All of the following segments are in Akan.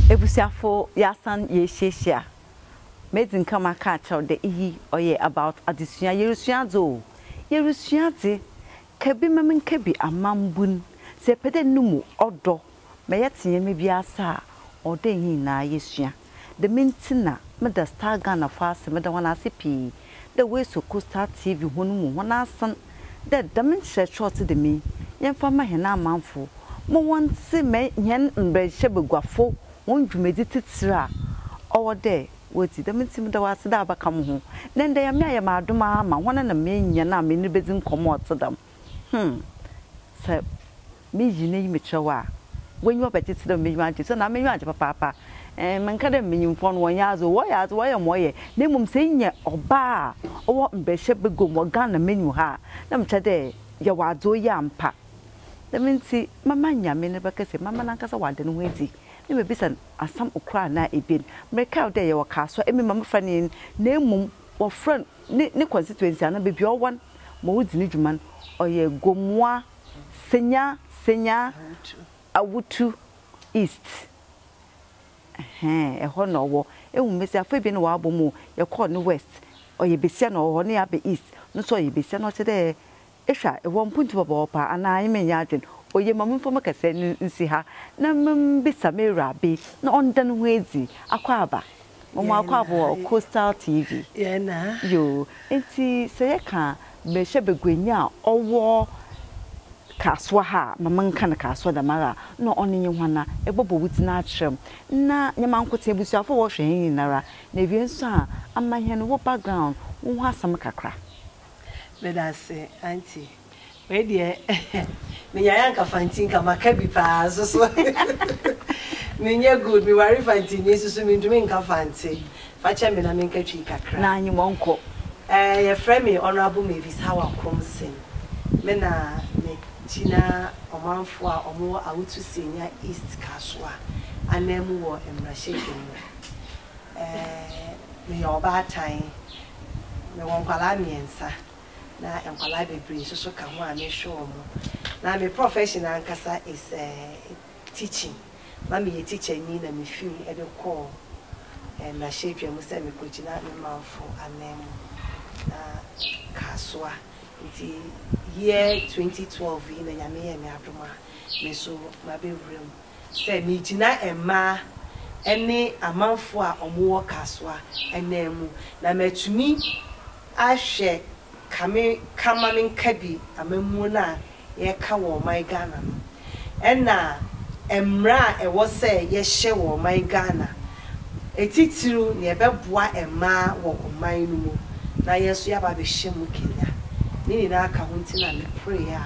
Ebusuafo, yɛasan yeehyiahyia. Medzi nkan maka akyerɛw dɛ iyi ɔyɛ about adzesua. Yerusua adze o, yerusua adze. Ka bi ma menka bi amambun. Sɛ epɛ dɛ no mu ɔdɔ ma yɛtse ndzɛmba bi ase a, ɔwɔ dɛ hɛn nyina yesua. Dɛm ntsi na meda Star Ghana fo ase, meda hɔn ase pii dɛ woesuo kɔ Star TV hɔn mu hɔn asen dɛ dɛm nkyerɛkyerɛ a ɔtse dɛm yi yɛmfa mma hɛn amamfo ma wɔntse ma hɛn mbrɛnhyɛbaguafo hɔn dwumadzi tsitsir a ɔwɔ dɛ Wo dzi, dɛm ntsi meda wo ase dɛ abakã mo ho. Ndɛ ndɛ Nyame ayɛ me adom ara ma hɔn na menya no a menye no bedzi nkɔmbɔ a ɔtse dɛm. Hmm. Sɛ miyi na iyi mekyerɛ wo a, w'enyiwa bɛgye tse dɛ m'enyiwa agye. Sɛ nna m'enyiwa anngye papaapa. Ɛɛm, mennka dɛ mbanyimfoɔ no wɔnnyɛ adze o, wɔyɛ adze, wɔyɛ ma ɔyɛ, na mbom sɛ inya ɔbaa a ɔwɔ mbahyia baguam wɔ Ghana menu ha a, nna mekyerɛ dɛ yɛwɔ adze oye ampa. Dɛm ntsi mɛma Nyame ne bɛkɛsɛ, mɛma nankasa ɔada no ho edzi, na mebisa no. Asɛm kor anaa ebien. Merekã wo dɛ yɛwɔ Kasoa, emi ma mefrɛ no yen, na mbom wɔfrɛ no ne constituency anaa beebi a ɔwɔ no ma odzi no dwuma no, ɔyɛ Gomoa, Senya, Senya, Awutu East. Ɛhɛɛn, hɔ na ɔwɔ. Ehu mbasiafo ebien no wɔabɔ mu o. Yɛkɔr no West, ɔyɛ basia na ɔwɔ hɔ, na yɛaba East no so ɔyɛ basia na ɔkyerɛ dɛ Ehwɛ a, ewɔ mpontu bɔbɔɔ paa anaa emi nnyɛ adwen? Oye, ma memfa mo kasaa no nsi ha na mimbisa m'ewurabe na ɔnda noho edzi. Akwaaba, mama wo akwaaba wɔ Coastal TV. Yoo, ntsi sɛ yɛka berahyɛbaguanyi a ɔwɔ Kasoa ha a, ma menka no Kasoa dɛmara a, nna ɔno nye hwan? Na ebɔbɔ wo dzin akyerɛ m', na nnyɛ mankotsee, ebusuafo a wɔhwɛ hɛn nyinara, na ewie so a, ama hɛn wo background, woho asɛm kakra. Medase aunty. Wei deɛ menyaeɛ anka fanti nka maka bi paa nso so menyɛ good meware fantini nso so mentumi nka fante fa kyɛ me na menka twi kakra. Na anyi wɔnkɔ. Ɛɛ yɛfrɛ me Honourable Mavis Hawa Komsem me na me gyina ɔmanfoɔ a wɔn wɔ Awutu Senya East Kasoa anan mu wɔ mmarahyɛdwam mu. meyɛ ɔbaatan, mewɔ nkwadaa mmiɛnsa na nkwadaa bebree nso so ka ho a mehwɛ wɔn. Na me profession ankasa is teaching, na meyɛ tikyani na mefiri mu de kɔɔ mmarahyɛbadwam sɛ mekɔgyina me manfo ananmu na Kasoa nti year 2012 yi na Nyame yɛɛ me adom a me nso mabɛwura mu. sɛ megyina mmaa ne amanfoɔ a wɔwɔ Kasoa anan mu na matumi ahwɛ kame kama menka bi amammuo no a yɛreka wɔ ɔman Ghana no ɛna mmara a ɛwɔ sɛ yɛhyɛ wɔ ɔman Ghana ɛtitiriw nea ɛbɛboa mmaa wɔ ɔman no mu na yɛn nso yɛaba abɛhyɛ mu kenya ne nyinaa ka ho nti na meporeeɛ a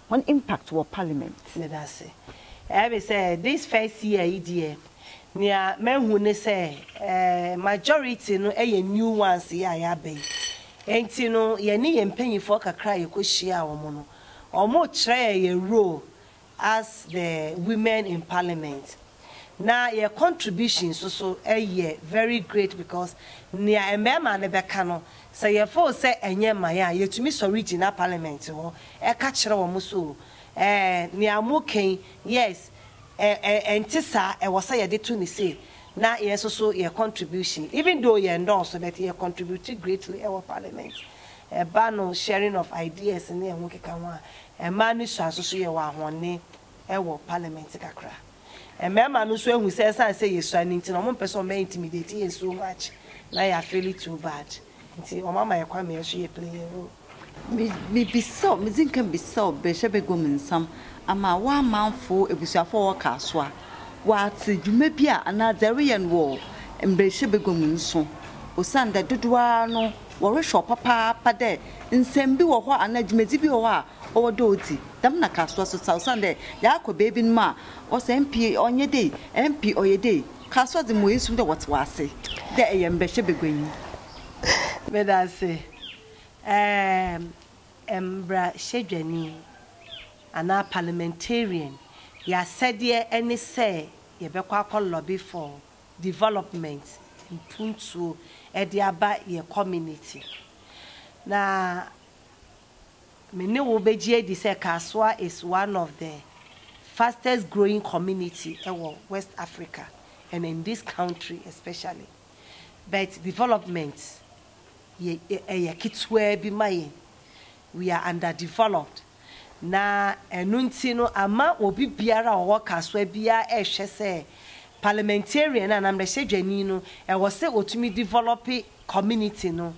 Hɔn impact wɔ parliament. Meda ase. Ɛyɛme sɛ this first year yi deɛ nea mahu ne sɛ majority no yɛ new ones yi a yɛaba yi. Enti no yɛne yɛn mpanyinfoɔ kakra a yɛkɔhyiaa wɔn no, wɔkyerɛɛ yɛn role as the women in parliament. na yɛ contribution nso so yɛ very great because nea mmarima no bɛka no sɛ yɛ feel sɛ ɛnyɛ man a yɛtumi sɔre gyina parliament hɔ ka kyerɛ wɔn so ɛɛ nea mo ka yi yes ɛ ɛ ɛnte saa ɛwɔ sɛ yɛde to ne sei na yɛn nso so yɛ contribution even though yɛn nnɔɔso but yɛ contribute greatly ɛwɔ parliament ɛba no sharing of ideas ne ɛho keka ho a mmaa no sua nso so yɛwɔ ahɔnne wɔ parliament kakra. Mmarima no nso ahu sɛ ɛsiane sɛ yɛsua no nti no, wɔmpɛ sɛ wɔbɛ intimidate yɛn so much na yɛ afeeli too bad nti wɔn ama yɛn kwan ma yɛn nso yɛ play yɛn role. Mebisa wo, medzi nkan bisa wo bɛhyɛ baguam nsɛm ama w'amanfo, ebusuafo a wɔwɔ Kasoa, wɔatse dwuma bi a anaa dza ereyɛ no wɔ mbrahyɛ baguam nso osiandɛ dodow ara no wɔrohwɛ wo papaapa dɛ nsɛm bi wɔ hɔ anaa dwumadzi bi wɔ hɔ a Ɔwɔ dɛ odzi dɛm na kaa soa so tsa osiandɛ yaakɔ beebinom a wɔse MP ɔnnyɛ dei, MP ɔyɛ dei. Kaa soa dze mowɔ esu dɛ wɔtsew ase dɛ eyɛ mbrɛhyɛ baguanyi. Meda ase. Erm, mbrahyɛdwanyi anaa parliamentarian, y'asɛdeɛ ne sɛ yɛbɛkɔ akɔ lobby for development, mpuntuo, de aba yɛ community. Na Me ne wo bɛgye adi sɛ Kasoa is one of the fastest growing community wɔ West Africa and in this country especially but development yɛ ɛyɛ ketewaa bi ma yɛn, we are under developed na ɛno nti no ama obi biara a ɔwɔ Kasoa biara ɛrehwɛ sɛ parliamentarian anaa mmarahyɛdwani no ɛwɔ sɛ ɔtumi develop community no.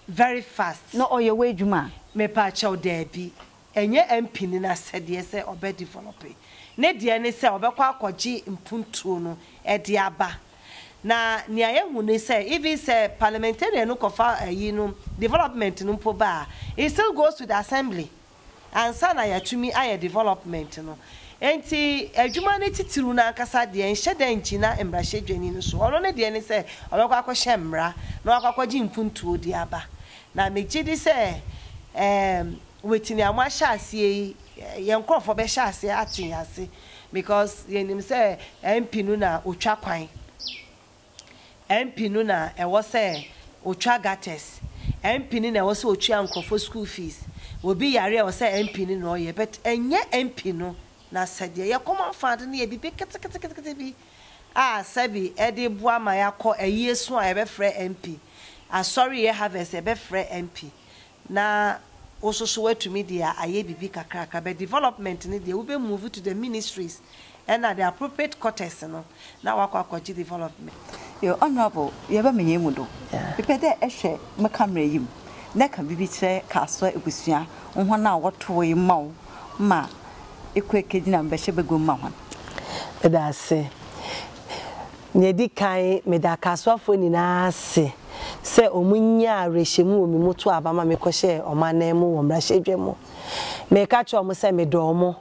very fast. Na ɔyɛ w'adwuma a? Mepaakyɛw daabi. Ɛnyɛ mpini no asɛdeɛ sɛ ɔbɛ develope. Ne deɛ ne sɛ ɔbɛkɔ akɔgye mpuntuo no de aba. Na nea yɛhu ne sɛ even sɛ parliamentarian no kɔfa ayi no development no mpo ba a, it still goes to the assembly ansa na yɛatumi ayɛ development no. Enti adwuma no titiriw no ankasa deɛ nhyɛ da ngyina mmarahyɛdwani no so. Ɔno ne deɛ ne sɛ ɔbɛkɔ akɔhyɛ mmara na wakɔ akɔgye mpuntuo de aba. Na megye di sɛ ɛɛm Whitney a moahyɛ aseɛ yi yɛn nkorɔfoɔ bɛhyɛ aseɛ ate ase because yɛnim sɛ MP no na ɔtwa kwan. MP no na ɛwɔ sɛ ɔtwa gutters, MP no na ɛwɔ sɛ ɔtua nkurɔfoɔ school fees, obi yare a ɛwɔ sɛ MP no na ɔyɛ but ɛnyɛ MP no n'asɛdeɛ. Yɛ common fund no yɛ biribi keteketekete bi a sɛbi ɛde boa ma yɛakɔ ayieso a yɛbɛfrɛ MP, asɔreyɛ harvest yɛbɛfrɛ MP, Na wo nso so woatumi de ayɛ biribi kakrakra but development no deɛ wobɛ move to the ministries ɛna the appropriate quarters no na woakɔ akɔgye development. Your Honourable, yɛba me nyɛn mu do. Mepɛ dɛ ehwɛ me camera yi mu na ka biribi kyerɛ Kasoa ebusua, hɔn a wɔtowee mma wo ma ekɔ ekegyina mbɛhyɛ baguam ma hɔn. Meda ase. Nea edi kan, meda Kasoafo nyinaa ase. sɛ wɔnnya awerɛhyɛmu wɔ me mu too aba ma mekɔhyɛɛ wɔn ananmu wɔ mmarahyɛbadwam. Meka kyerɛɛ wɔn sɛ medɔ wɔn,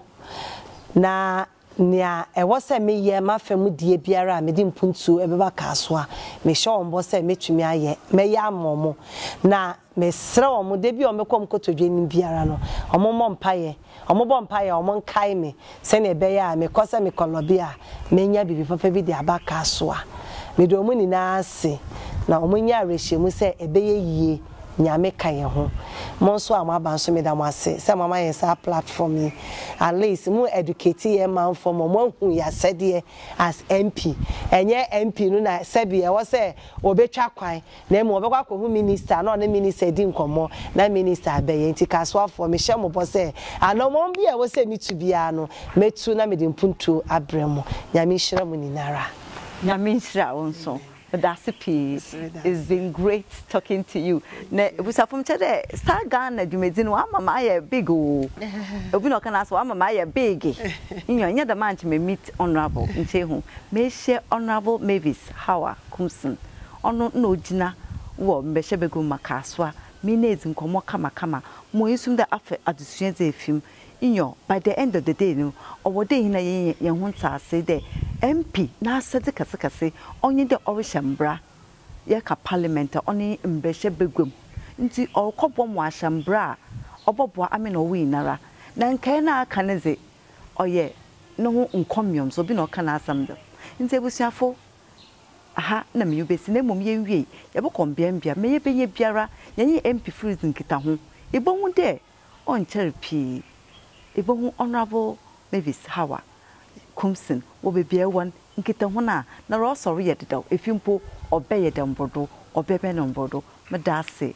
na nea ɛwɔ sɛ meyɛ m'afa mu deɛ biara a mede mpuntuo bɛba kaa so a, mehyɛ wɔn bɔ sɛ mɛtumi ayɛ, mɛyɛ ama wɔn. Na mesrɛ wɔn da bi a wɔbɛkɔ wɔn kotodwe anim biara no, wɔmmɔ mpaeɛ. Wɔbɔ mpae a, wɔnkae me sɛnea ɛbɛyɛ a mekɔ sɛ mekɔ lɔbi a, menya biribi papa bi de aba Kaso a. Meda wɔn nyinaa ase, na wɔnya awerɛhyɛmu sɛ ɛbɛyɛ yie, Nyame ka yɛn ho. Mo nso a moaba nso, meda mo ase sɛ moama yɛn saa platform yi. At least mo educate yɛn manfoɔ ma wɔahu yɛn asɛdeɛ as MP. Ɛnyɛ MP no na sɛbi ɛwɔ sɛ ɔbɛtwa kwan Na mmom ɔbɛkɔ akɔhu minista na ɔne minista adi nkɔmmɔ na minista abɛyɛ. Enti Kasoafoɔ, mehyɛ mo bɔ sɛ, anammɔn biara a ɛwɔ sɛ metu biara no, mɛtu na mede mpuntuo abrɛ mo. Nyame nhyira mo nyina ara. Nyame nhyira wo nso. Medase pii. It's been great talking to you. Na Abusuafo mekyɛ dɛ Star Ghana dwumadzi no ɔama me ayɛ big o. Obi na ɔka no ase ɔama me ayɛ biigi. Nyew, nnyɛ dɛm a nkyɛ me meet Honourable Nchehu. Mehyɛ Honourable Mavis Hawa Kumson Ɔno na ogyina wɔ mbɛhyɛbagua mu ma Kasoa, me na edzi nkɔmbɔ kamakama ma oeesuum dɛ afa adzesua dze efi mu. Nyew, by the end of the day no, ɔwɔ dɛ hɛn na yenya hɛnho ntseasee dɛ MP n'asɛdze kɛsekɛse ɔnye dɛ ɔrehyɛ mbra. Yɛreka Parliament a, ɔno nye mbɛhyɛbagua mu. Ntsi ɔrokɔbɔ mboa ahyɛ mbra a ɔbɔboa ame na ɔwo nyinara. Na nkae no a aka no dze, ɔyɛ noho nkɔmbeɔm so, obi na ɔka n'asɛm do. Ntsi ebusuafo, ha na menye wo besi, na mbom yewiei, yɛbɔkɔ mbeambea, ma yebenya biara yɛnye MP Firis nkitaho. Ibohu dɛ ɔnnkyɛr pii ibohu Honourable Mavis Hawa Koomson wɔ beebi a ewɔ no, nkitaho no a nna ɔrosɔr yɛ dedaw, efi mpo ɔbɛyɛ dɛ mbordo, ɔbɛbɛn mbordo. Meda ase.